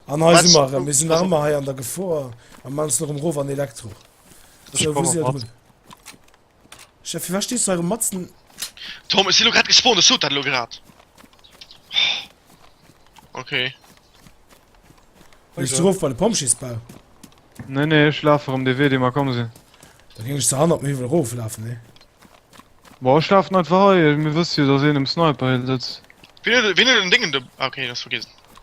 An hei si mer erëm, mir sinn nach ëmmer hei an der Gefor a man se erëm rof an Elektro. Sou, wou si erëm? Chef, firwat stees du hei erëm matzen? Tom, ech sinn elo grad gespawnt, ech sot dat elo grad. Okay. Wéis du erof bei de Pompjeesbau? Nee, nee, ech laf erëm dee Wee, dee mer komm sinn. Da géing ech zerhannert um Hiwwel eroflafen, nee? Bon, ech lafen einfach hei, mir wësse jo, datt een um Sniper Hill sëtzt. Wien huet, wien huet en Ding in de. Ah, okay, dee ass vergiessen.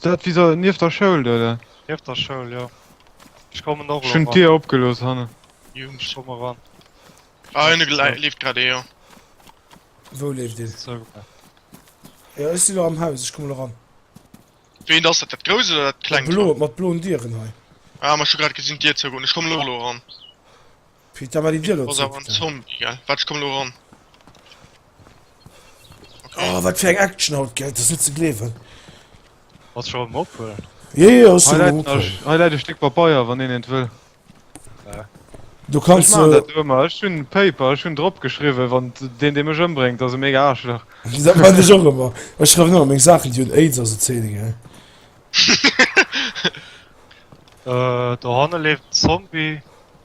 Dat wéi se nieft der Schoul do oder? Nieft der Schoul, jo. Ech kommen och elo ran. Ech hunn d'Dier opgelooss hanne. Jo, ech komme elo ran. Ah, hinne leeft grad ee, jo. Wou leeft een? Sou. Jo, ech sinn elo am Haus, ech komme elo ran. Weent ass dat? Dat grousst oder dat klengt? Dat bloe, mat bloen Dieren hei. Ah, ma ech hu grad gesinn d'Dier zougoen. Ech kommen elo ran. Fir d'Invalidier lo ze kréien. Oh wat fir eng Action haut gell, et ass net ze gleewen. Ass scho am ophuelen? Jo jo ass scho am ophuelen. Hei läit e Stéck Papeier wann een eent wëll. Du kanns jo. Ech maan dat do ëmmer, ech hunn Paper, ech hunn drop geschriwwen wann deen dee mech ëmbréngt ass e mega Aarschlach. Dat maan ech och ëmmer, ech schreiwen ëmmer meng Saachen déi hunn Aids a sou Zeen gell. Dohanne leeft en Zombie.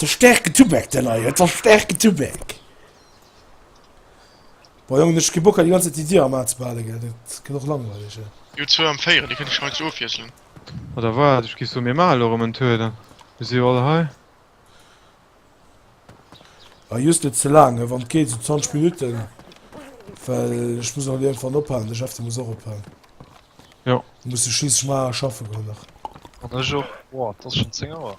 Der stäerken Tubak den hei huet, der stäerken Tubak! Boah Jongen ech ke Bock hei déi ganz Zäit déi Dier am Aa ze behalen gell, dat gëtt och langweileg hei. Jo zwou am Véieren, déi kënnt ech scheinst ofwiesselen. Oder waat? Ech giff soen mir maache lo rem en Tour dann. Mir si jo all hei. Ah jhust net ze laang, wann et geet sou 20 Minuten well ech muss nach iergendwann ophalen, de Jeff de muss och ophalen. Jo. Muss jo schliisslech maer schaffen goen nach. An ech och. Boah, et ass schon 10 Auer.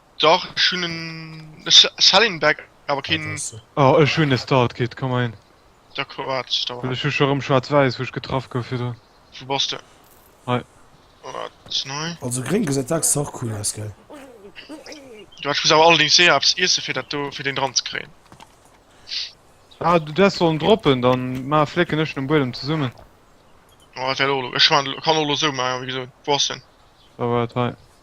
Dach ech hun en Selling Back awer keen. Oh ech hun e Start Kit komm ein. D'accord waart ech da. Ech hu scho rem schwarz weiss wou ech getraff gouf virdru. Wou bass de? Hei. Waart nei. Also gréng gesäit dacks och cool aus gell. Jo ech muss awer allerdings eher eppes iessen fir dat do fir deen dran ze kréien. Ah du häss sollen droppen dann ma flécken ech den Buedem zesummen. Oh dat wär och lo ech kann och lo sou maachen wéi gesoot. Wou ass den? Da waart hei.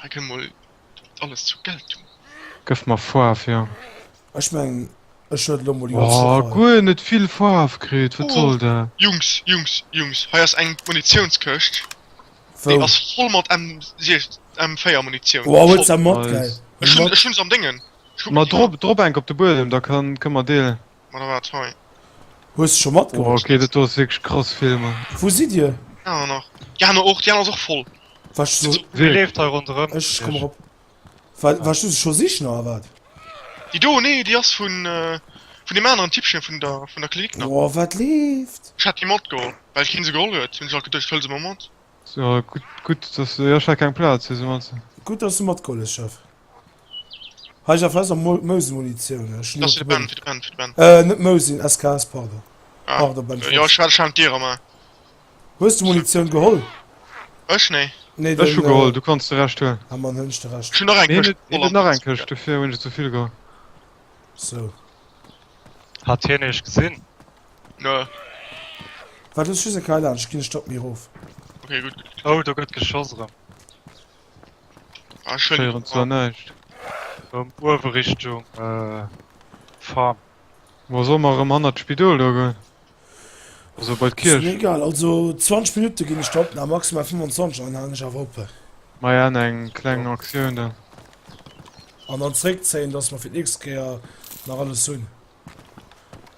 Hei kënnt mol alles zur Geltung. Gëff mer Foarf, jo. Ech mengen, ech huet elo mol déi ganz Stéck hei. Guer net vill Foarf kritt, wat soll dat? Oh, Jungs, Jungs, Jungs, hei ass eng Munitiounskëscht, déi ass voll mat M4-Munitioun. Wow, huet se mat, gell? Ech hunn se am Déngen. Mat drop enk op de Buedem, da kënnt mer deelen. Ma da war et hei. Hues scho matgeholl? Boah, okay, dat do ass wierklech krass Filmer. Wou sidd dir? Déi aner nach. Déi aner och, déi aner ass och voll. Warst du se? Wee leeft hei ronderëm? Ech komm erop. War, warst du se scho sichen oder wat? Déi do? Nee, déi ass vun vun deem aneren Tippchen vun der vun der Klinik nach. Boah, wat leeft? Ech hat déi matgeholl, well keen se geholl huet, hunn ech alt geduecht, ech huele se mol mat. So, gutt, gutt, dass, jo ech hat keng Plaz, wéi se meinst du? Gutt, dass du matgeholl hues, Chef. Heiger fest am Mousen Munitioun ech hun äh, net Mousin SKS pardon pardon Ben hues du Munitioun geholl? Ech nee nee ech hu geholl du kanns de recht huelen ha man hunn ech de recht nach eng Këscht dofir hunn ech zevill geholl sou hat hien eech gesinn? ne wat hues du se kei laanscht ginn ech drop mi rof okay gutt gutt oh do gëtt geschoss erëm. Ah, Ech héieren zwar schön. näischt. Erëm uewe Richtung Farm. Bon, solle mer erëm hannert d'Spidol do goen? Also bei Ass mir d'Kierch? egal, also 20 Minutte ginn ech der Opnam, maximal 25, an dann halen ech awer op. Maja, an eng kleng Aktioun dann. An dann zréckzéien, dass mer fir d'nächst Kéier nach alles hunn.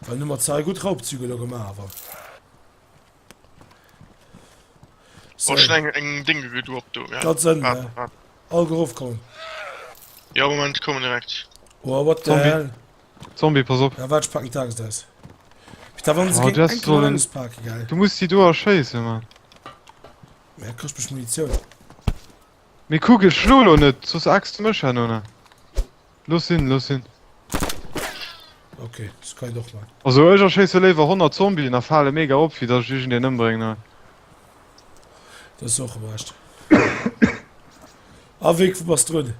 Well elo hu mer zwar gutt Raubzüge elo gemaach, awer. So. Oh, eng, eng Dinge gët op do. Ja. Dat sinn ah, ah. all geruff kommen. Ja Moment kommen direkt. Oh, what the hell? Zombie, pass op. Ja, wat pack die Tages aus. Da waren sie oh, gegen einen so ein... Parken, geil. Du musst die do erschießen, Mann. Ja, kriegst bestimmt Munition. Mir kugeln Schlolo nicht, sonst axt du mich an, oder? Looss sinn, looss sinn. Ok, dës kann een och man. Also ech erschéisse léiwer 100 Zombien a fale mega op wéi dass ech iergend een ëmbréngen hei. Dat ass och erecht. A wéi bass drun?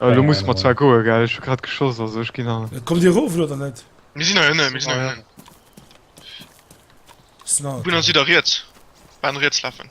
Äh lo musse mer zwar goe gell, ech hu grad geschoss also ech ginn an. Kommt dir erof elo oder net? Mir sinn hei ënnen, mir sinn hei ënnen. Bun ass wieder riets, Baan riets lafen.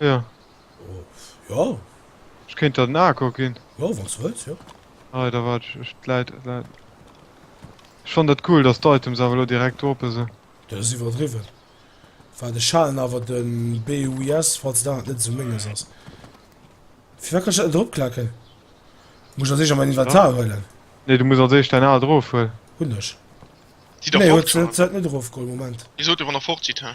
Ja. Oh, ja. Ech kéint der den Aako ginn. Ja, wann s du wëlls, jo. Nei, da waart ech, ech läit, läit. Ech fannt dat cool, dass d'Items awer elo direkt droppe sinn. Dat ass iwwerdriwwen. War de Schalen awer de BUIS, falls dat net esou menges ass. Firwat kann ech dat net eropklacken? Muss ech als éischt a mäin Inventar huelen? Nee, du muss als éischt däin aalt erofhuelen. Hunn ech. Si da Nee, fort huet se schon. huet se net erofgeholl. Moment. Dir sot jo 150, hä?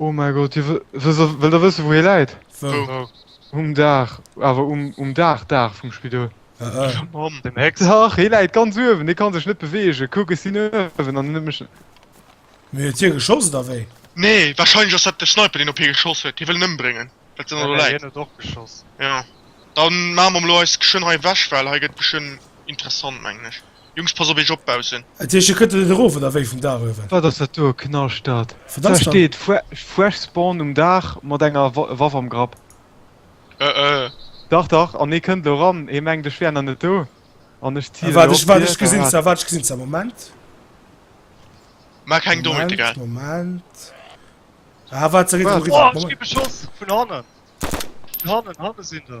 Oh mein Gott, jo wëllt der wëssen wou hie läit? Wou? Um Daach, awer um Daach Daach vum Spidol. Mam dem Hex? Dach, hie läit ganz uewen, hie kann sech net beweegen, kuck ech sinn uewen an net méch. Mee huet hie geschoss oder wéi? Nee, wahrscheinlech ass dat de Sniper deen op hie geschoss huet, hie wëll en ëmbréngen well se elo läit. Hien huet och geschoss. Jo, dann maache mer elo eis geschwënn hei ewech well hei gëtt geschwënn interessant mengen ech. Jungs pass op eech op baussen. Et heescht hie kënnt net erof oder wéi vum Daach uewen? Wat ass dat do? Knascht dat da steet fresh spawn um Daach mat enger Waff am Grapp? Ëëëë. Dach dach an hie kënnt lo ran, hie mengt ech wär nach net do an ech zielen op hie. Waart ech gesinn se, waart ech gesinn se, Moment. Maach keng Dommheete gell. Moment, Moment. Ah waart se. Ech gi beschoss vun hannen, vun hannen, hanne sinn se.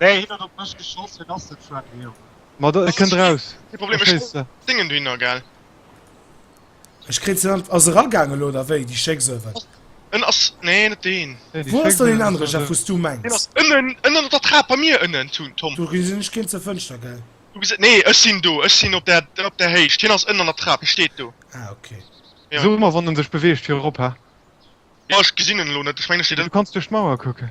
Nee, hien huet op mech geschoss, hien ass net friendly, Jongen. Ma do, e kënnt raus. Kee Problem, ech Verstésste? dingen do hinner, gell? Ech kréien se net. Ass e ragaangen elo oder wéi, déi Schécks oder wat? En ass, nee, net deen. Nee, déi Wou ass Schécks dann deen ass anere Jeff, wou s du Deen mengs? ass ënnen, ënnen op der Trap bei mir ënnen, Tun, Tom. Du gesinn ech keen zur Fënschter, gell? Du gesi, nee, ech sinn do, ech sinn op där, op där Héicht. Hien ass ënnen an der Trap, hie steet do. Ah, ok. Ja. So mer, wann e sech beweegt, fir erop, ha? Jo, ech gesinn en elo net, ech mengen, e steet Du ënnen. kanns duerch d'Mauer kucken.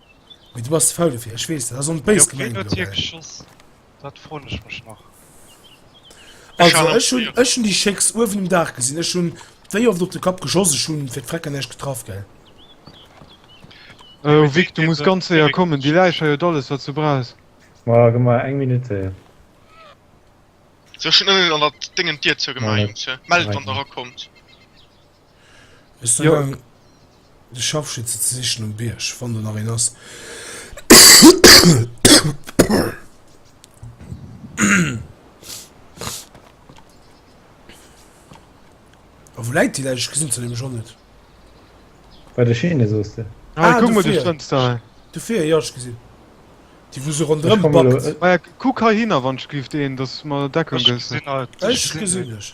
Mee du bass ze faul dofir, ech weess dat, ass och net béis gemengt elo, mä. Dat froen ech mech nach. Also ech hunn, ech hunn déi Chèques uewen um Daach gesinn, ech hunn wéi oft op de Kapp geschoss, ech hunn fir d'Vrecker näischt getraff, gell. Oh Vic, du muss ganz séier kommen, déi Läich hei huet alles wat se brauch. Ma gëmm mer eng Minutt Zäit. Sou, ech hunn ënnen an der Déngen d'Dier zou gemaach, Jungs, mellt wann der erakommt. Ech sinn gaang de Scharfschütze ze sichen um Bierg, wann do nach een ass. A wou läit déi Läich? Ech gesinn se nämlech och net. Bei der Schiene soos de. Ah, kuck mol, do stënns se hei. Do vir, jo, ech gesinn déi, wou se ronderëm backt. Ah jo, kuck heihinner, wann ech géif deen, dass du mer Deckung gëss. Ech gesinn dech.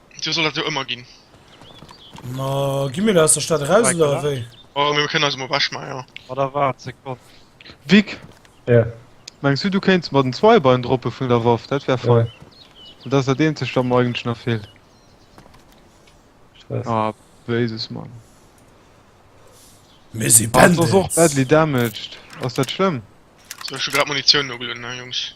Dir soll dat jo ëmmer ginn. Ma gi mir da aus der Stad eraus oder ewéi? Oh, mir kënnen eis emol ewech maachen, jo. Ma da waart Sekonn. Vic? Jo? Mengs du, du kéints mer den Zweibein droppe vun der Waff? Dat wär fein. Dat ass dat eenzegt, wat mer eigentlech nach feelt. Stress. Ah, béises, Mann. Mir si Bandits! Ah, ass och badly damaged. Ass dat schlëmm? Sou, ech hu grad Munitioun nogelueden, Jungs.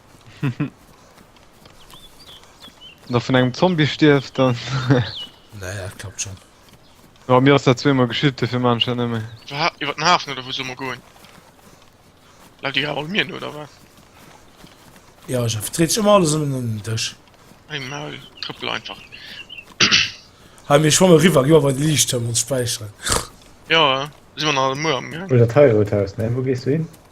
Wann der vun engem Zombie stierft, dann. Nee, dat klappt schon. Ja, mir ass dat zweemol geschitt, dofir man ech dat net méi. Wa ha, iwwer den Hafen oder wou soll mer goen? Läuft déi grad all mir no oder wat? Ja, Jeff, et dreet sech ëmmer alles ëm den Dësch. Ein Maul, trëppel einfach. Hei, mir schwamme riwwer, gi mer bei de Liichtturm ons späicheren. Jo, si mer nach muer am Gang. Oder d'Heirothaus, ne? Wou gees du hin?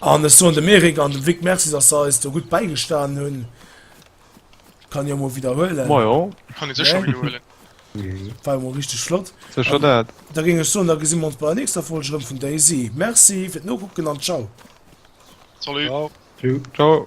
An ech soen dem Eric an dem Vic Merci, dass se eis do gutt bäigestanen hunn. Kann jo emol widderhuelen. Majo. Kann ee sécher widderhuelen. War emol richteg flott. Sécher dat. Da géing ech soen, da gesi mer ons bei der nächster Folg erëm vun DayZ. Merci fir d'Nokucken an tschau. Salut. Tschau. Tschau.